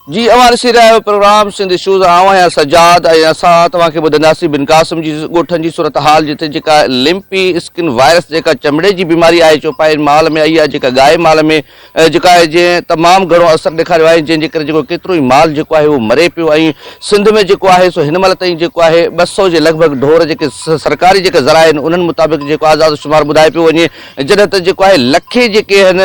جي اوهان ڏسي رهيا آهيو پروگرام سنڌ اشوز آئون آهيان سجاد ۽ اسان توهان کي ٻڌنداسين بن قاسم جي ڳوٺن جي صورتحال جتي جيڪا لمپي اسڪن وائرس جيڪا چمڙي جي بيماري آهي چوپاين مال ۾ اهي آهي جيڪا ڳائي مال ۾ جيڪا آهي جنهن تمام گهڻو اثر ڏيکاريو آهي جنهن جي ڪري جيڪو ڪيترو ئي مال جيڪو آهي اهو مري پيو ۽ سنڌ ۾ جيڪو آهي سو هن مهل تائين جيڪو آهي ٻه سئو جي لڳ ڀڳ ڍور جيڪي سرڪاري جيڪي ذرائع آهن انهن مطابق جيڪو آزاد شمار ٻڌايو پيو وڃي جڏهن ته جيڪو آهي لکين جيڪي آهن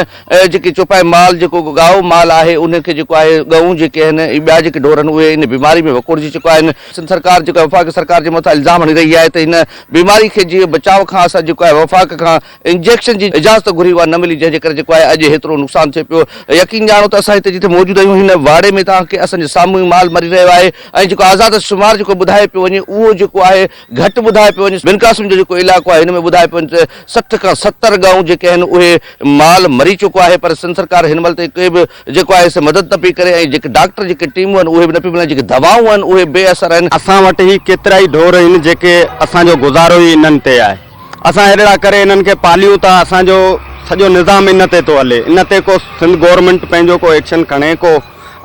جيڪي چوپائي مال جيڪو ڳائو مال آهي انهن کي جيڪو آهي ڳئون جيڪي آهن ۽ ٻيا جيڪي ڍور آهن اهي ان بيماري ۾ وڪوڙجي چڪا آهن. سنڌ سرڪار جيڪو آهي وفاقي سرڪار جي مٿان الزام هڻي رهي آهي ته هن بيماري کي جي بچاء کان اسان جيڪو آهي وفاق کان انجيڪشن جي اجازت گهري اها نه ملي جنهن جي ڪري جيڪو آهي اڄ هيترو نقصان ٿئي پيو يقين ڄاڻو ته اسان هتي جتي موجود آهيون هن واڙي ۾ تان کي اسان جي سامهون ئي مال مري رهيو آهي ۽ جيڪو آزاد شمار جيڪو ٻڌايو پيو وڃي اهو جيڪو آهي گهٽ ٻڌايو پيو وڃي بن قاسم جو جيڪو علائقو آهي هن ۾ ٻڌايو پيو وڃي ته سٺ کان ستر ڳائون جيڪي آهن اهي مال مري چڪو آهي پر سنڌ سرڪار هن مهل تائين ڪي به جيڪو آهي سي مدد نه پئي ڪري ۽ جيڪي ڊاڪٽر جيڪي ٽيمون آهن اهي به نه پيون ملن جيڪي دوائون آهن اهي بي اثر آهن. اسان وٽ هي ڪيترائي ڍور آهن جيڪي اسان جو گذارو ئي انهن تي آهي. اسان اهڙڙا ڪري انهن کي پاليون ٿا، اسان جو سڄو نظام ان تي ٿو هلي، ان تي ڪو سنڌ گورنمينٽ پنهنجو ڪو ايڪشن کڻي، ڪو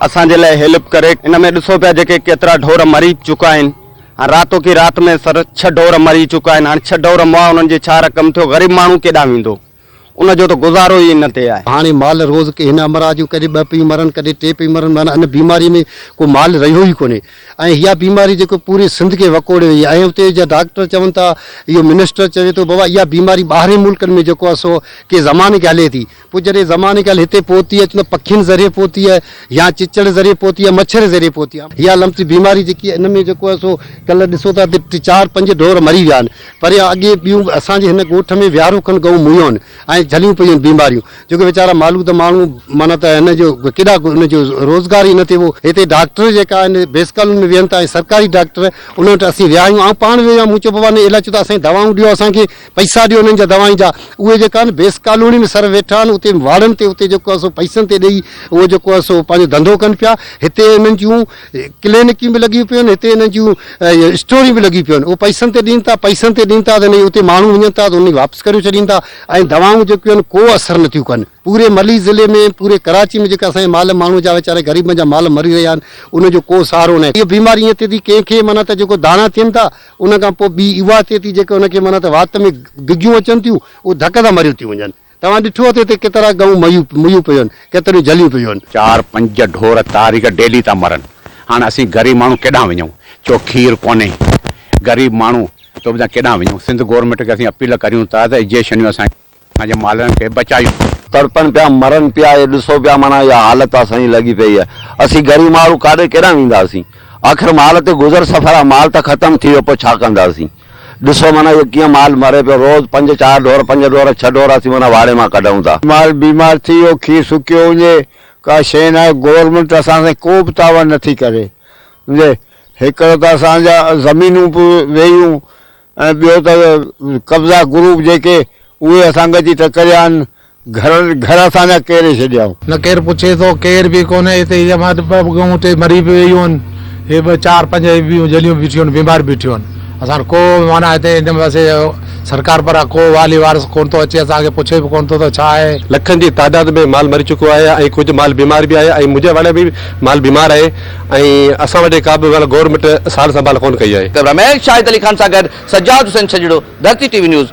اسان جي لاء هيلپ ڪري. ان ۾ ڏسو پيا جيڪي ڪيترا ڍور مري چڪا آهن، هاڻ راتو ڪي رات ۾ سر ڇهه ڍور مري چڪا آهن، هاڻ ڇهه ڍور مئا انهن جي ڇا رقم ٿيو، غريب ماڻهو ڪيڏانهن ويندو. ان جو ته گذارو ئي ان تي آهي. هاڻي مال روز ڪي هن امراض جون ڪڏهن ٻه پيون مرن ڪڏهن ٽي پئي مرن معنيٰ ان بيماري ۾ ڪو مال رهيو ئي ڪونهي ۽ اها بيماري جيڪو پوري سنڌ کي وڪوڙي وئي ۽ اتي جا ڊاڪٽر چون ٿا اهو منسٽر چوي ٿو بابا اها بيماري ٻاهرين ملڪن ۾ جيڪو آهي سو ڪي زماني کي هلي ٿي پوء جڏهن زماني کي هلي هتي پهتي آهي چون ٿا پکين ذريعي پهتي آهي يا چچڙ ذريعي پهتي آهي مڇر ذريعي پهتي آهي. اها لمس بيماري جيڪي آهي ان ۾ جيڪو آهي سو ڪلهه ڏسو ته اتي چار پنج ڍور مري ويا آهن. پر يا اڳي ٻيون به اسان جي هن ڳوٺ ۾ ويهارو کن ڳئون مويون ۽ جهليون پيون آهن بيماريون جو ڪي ويچارا مالود ماڻهو معنيٰ ته هن جو ڪيڏا ان جو روزگار ئي نه ٿئي هو هتي ڊاڪٽر جيڪا آهن بيس ڪالوني ۾ ويهن ٿا ۽ سرڪاري ڊاڪٽر انهن وٽ اسين ويا آهيون آئون پاڻ ويو آهيان مون چيو بابا نه علاج چيو ته اسان کي دوائون ڏيو اسان کي پئسا ڏيو انهن جا دوائن جا اهي جيڪا آهن بيس ڪالوني ۾ سر ويٺا آهن اتي واڙن تي اتي جيڪو آهي سو پئسن تي ڏئي اهو جيڪو آهي سو پنهنجو ڌنڌو ڪن پيا هتي انهن جون ڪلينڪيون به لڳيون پيون آهن، هتي انهن جون اسٽوريون به لڳيون پيون آهن، اهي پئسن تي ڏين ٿا، پئسن تي ڏين ٿا ته انهي اتي ماڻهو وڃن ٿا ته انهن کي واپس ڪري ڇڏين ٿا ۽ دوائون جيڪيون آهن ڪو اثر نٿيون ڪن. پوري ملي ضلعي ۾ پوري ڪراچي ۾ جيڪي اسان جي مال ماڻهو جا ويچاري غريبن جا مال مري رهيا آهن انهن جو ڪو سهارو ناهي. هيء بيماري ائين ٿئي ٿي ڪنهن کي معنيٰ ته جيڪو داڻا ٿين ٿا انهن کان پوء ٻي اها ٿئي ٿي جيڪي ان کي معنيٰ ته وات ۾ گگيون اچن ٿيون اهي ڌڪ سان مريون ٿيون وڃن. توهان ڏٺو اٿئي تي ڪيترا ڳئون مئيون پيون آهن، ڪيتريون جهليون پيون آهن. چار پنج ڍور تاريخ ڊيلي ٿا مرن. هاڻ اسين غريب ماڻهو ڪيڏانهن وڃون؟ چؤ کير ڪونهي. غريب ماڻهو تو بنا ڪيڏانهن وڃون؟ سنڌ گورنمينٽ کي اسين اپيل ڪريون ٿا ته اجيشنيون اسان جي اسان جي مالهن کي بچايون. تڙپن پيا مرن پيا اهي ڏسو پيا معنيٰ اها حالت اسان جي لڳي پئي آهي. اسين غريب ماڻهو ڪاڏي ڪيڏانهن وينداسين؟ آخر مال تي گذر سفر آهي مال ته ختم ٿي ويو پوء ڇا ڪنداسين؟ ڏسو معنيٰ اهو ڪيئن مال مري پيو. روز پنج چار ڍور، پنج ڍور، ڇهه ڍور اسين معنيٰ واڙي مان ڪڍون ٿا. مال بيمار ٿي ويو، کير سڪيو وڃي، ڪا شيء ناهي. گورنمينٽ اسان سان ڪو به تعاون نٿي ڪري. سمجهي؟ هڪڙو ته اسان جا زمينون به ويئيون ۽ ٻيو ته قبضا گروپ جيڪي اهي اسان کي اچي ٽڪريا آهن. گهر گهر اسان جا ڪيري ڇڏيائون. نه ڪير پڇي ٿو ڪير به ڪونه هتي هي امان ٻه ٻه ڳئون ٽي مري به ويون آهن هي ٻه چار پنج هي ٻيون جليون بيٺيون آهن بيمار بيٺيون آهن اسان ڪو معنيٰ هتي هن پاسي سرڪار پران ڪو والي وارث ڪونه ٿو اچي اسان کي پڇي به ڪونه ٿو ته ڇا آهي. لکن جي تعداد ۾ مال مري چڪو آهي ۽ ڪجهه مال بيمار به آهي ۽ منهنجي واڙي ۾ به مال بيمار آهي ۽ اسان وٽ ڪا به گورنمينٽ سار سنڀال ڪونه ڪئي آهي. ڪئميرا مين شاهد علي خان سان گڏ Sajjad Hussain Chhachhar, Dharti TV news,